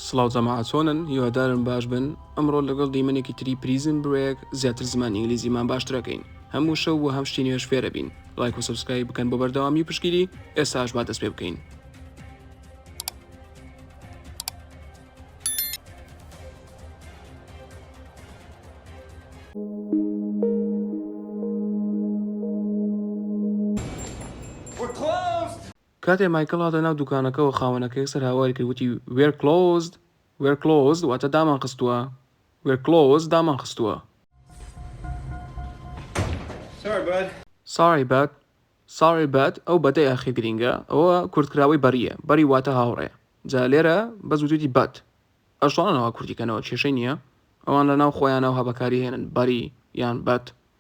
سڵاو جەماعە چۆنن هیوادارم باش بن ئەمڕۆ لەگەڵ دیمەنێکی تری پریزم برێک زیاتر زمان ئینگلیزیمان باشترەکەین هەموو شەو و هەم شتی نوێش فێرە بین لایک و سبسکرایب بکەن بۆ بەردەوامی و پشگیری ئێستاش با دەست پێ بکەین کاتێ مایکڵ هاتە ناو دوکانەکەوە خاوەنەکە یەکسەر هاواری کرد وتی We're closed! We're closed واتە دامانخستووە We're closed دامانخستووە. Sorry bud! Sorry bud! Sorry bud ئەو بەدە یاخی گرینگە ئەوە کورتکراوەی بەرییە بەری واتە هاوڕێ جا لێرە بەس وتویتی بەد ئەش توانا وا کورتی کەنەوە کێشەی نییە ئەوان لەناو خۆیانا و هەبەکاری هێنن بەری یان بەد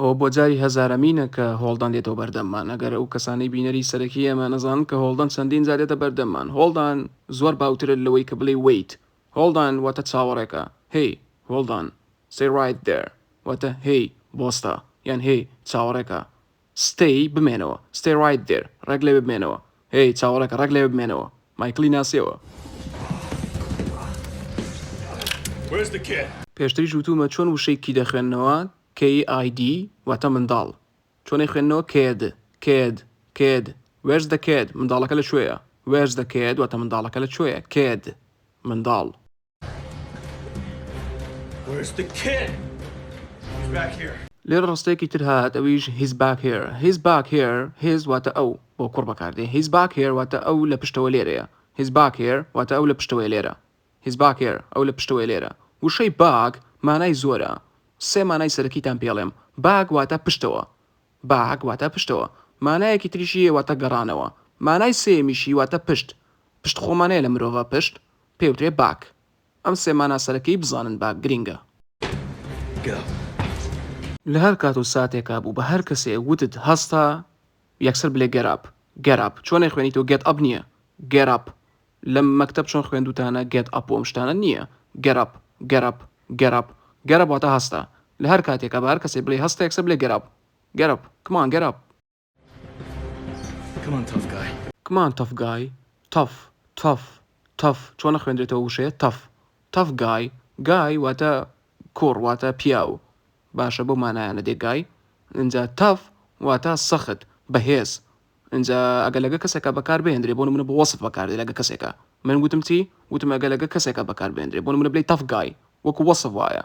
ئەوە بۆ جاری هەزارەمینە کە هۆڵدان دێتەوە بەردەممان ئەگەر ئەو کەسانی بینەری سەرەکی ئێمە نەزان کە هۆڵدان چەندین جارێتە بەردەممان هۆڵدان زۆر باوترە لەوەی کە بڵێ ویت هۆڵدان واتە چاوەڕێکە هەی هۆڵدان سەیڕایت دەر واتە هەی بۆستە یان هەی چاوەڕێکە Stay، بمێنەوە. Stay right there، ڕێک لەوێ بمێنەوە. هێی، چاوەڕێکە، ڕێک لەوێ بمێنەوە. مایکڵی ناسیەوە. Where's the kid؟ پێشتریش وتوومە چۆن وشەی کی دەخوێننەوە، KID، واتە منداڵ. چۆن ئەیخوێننەوە، کێد، کێد، کێد. Where's the kid؟ منداڵەکە لە کوێیە؟ Where's the kid؟ واتە منداڵەکە لە کوێیە؟ کێد، منداڵ. لێرە ڕستەیەکی تر هات ئەویش هیز باک هێر هیز باک هێر هێز واتە ئەو بۆ کوڕ بەکاردێ هیز باک هێر واتە ئەو لە پشتەوە لێرەیە هیز باک هێر واتە ئەو لە پشتەوەی لێرە هیز باک هێر ئەو لە پشتەوەی لێرە وشەی باک مانای زۆرە سێ مانای سەرەکیتان پێڵێم باک واتە پشتەوە باک واتە پشتەوە مانایەکی تریشی واتە گەڕانەوە مانای سێمیشی واتە پشت پشت خۆمانەیە لە مرۆڤە پشت پێوترێ باک. ئەم سێ مانا سەرەکیی بزانن باک گرینگە. گەپ. لە هەر کات و ساتێکا بوو بە هەر کەسێ وتت هەستا یەکسەر بلێ گێت ئاپ. گێت ئاپ. چۆن ئەیخوێنیتەوە گێت ئەپ نییە. گێت ئاپ. لە مەکتەب چۆن خوێندووتانە گێت ئەپ و ئەم شتانە نییە. گێت ئاپ. گێت ئاپ. گێت ئاپ. گێت ئاپ واتە هەستا. لە هەر کاتێکا بە هەر کەسێ بلێی هەستا یەکسەر بلێ گێت ئاپ. گێت ئاپ. کمان گێت ئاپ. Come on tough guy. Come on tough guy Tough Tough Tough چۆن ئەخوێندرێتەوە وشەیە Tough Tough guy Guy واتە کوڕ واتە پیاو باشە بەو مانایانە دێ Guy ئینجا Tough واتە سەخت بەهێز ئینجا ئەگەر لەگە کەسێکا بەکار بهێندرێ بۆ نمونە بۆ وەسف بەکار دێ لەگە کەسێکا من وتم چی وتم ئەگە لەگە کەسێکا بەکار بهێندرێ بۆ نمونە بلێی Tough guy وەکو وەسف وایە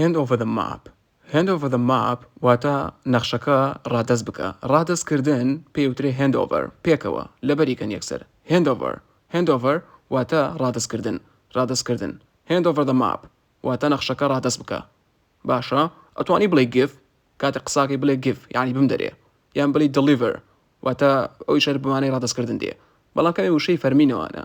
Hand over the map Hand over the map واتە نەخشەکە ڕادەست بکە ڕادەست کردن پێی وترێ Hand over پێکەوە لەبەری کەن یەکسەر Hand over Hand over واتە ڕادەست کردن ڕادەست کردن Hand over the map واتە نەخشەکە ڕادەست بکە باشە ئەتوانی بڵێ give کاتێ قساکەی بڵێ give یعنی بمدەرێ یان بڵێ deliver واتە ئەوی شەر بمانەی ڕادەست کردن دێ بەڵام کەمێ وشەی فەرمینەوانە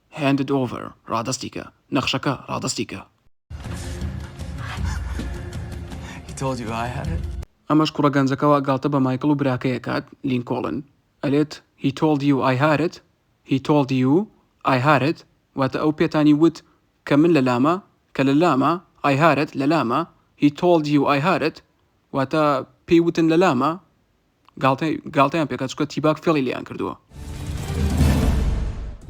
Hand it over، ڕادەستی کە، نەخشەکە ڕادەستی کە. He told you I had it؟ ئەمەش کوڕە گەنجەکە وا گاڵتە بە مایکڵ و براکەی ئەکات، لینکۆڵن، ئەلێت He told you I had it؟ He told you I had it؟ واتە ئەو پێتانی وت کە من لە لامە، کە لە لامە، I had it لە لامە، He told you I had it؟ واتە پێی وتن لە لامە، گاڵتەی گاڵتەیان پێکا چکە تیباک فێڵی لێیان کردووە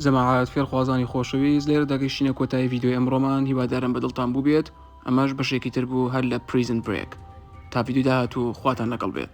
جەماعات فێرخوازانی خۆشەویست لێرە دەگەشتینە کۆتایی ڤیددیوی ئەمڕۆمان هیوادارم بەدڵتان بووبێت ئەمەش بەشێکی تر بوو هەر لە پریزن برێک تا ڤیددیو داهات و خواتان لەگەڵ بێت